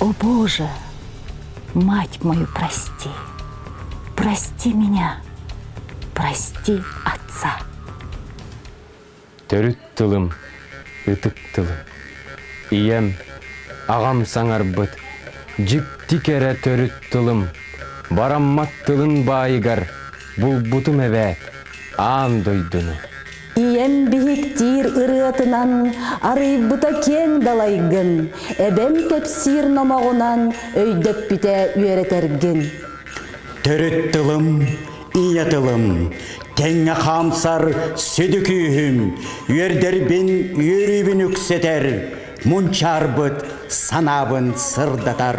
О Боже, мать мою, прости! Прости меня! Прости отца! Төрүт тылым, ытык тылым. Ийэм, ағам саңарбыт, дьикти кэрэ төрүт тылым. Бараммат тылын баайыгар, булбутум эбээт, аан дойдуну. Ийэм биһиктиир ырыатынан арыйбыта киэҥ далайгын, эбэм кэпсиир номоҕунан өйдөппүтэ үөрэтэргин. Төрүт тылым, ийэ тылым, тэҥҥэ хаамсар сүдү күүһүм, үөрдэрбин үөрүүбүн үксэтэр, мунчаарбыт санаабын сырдатар.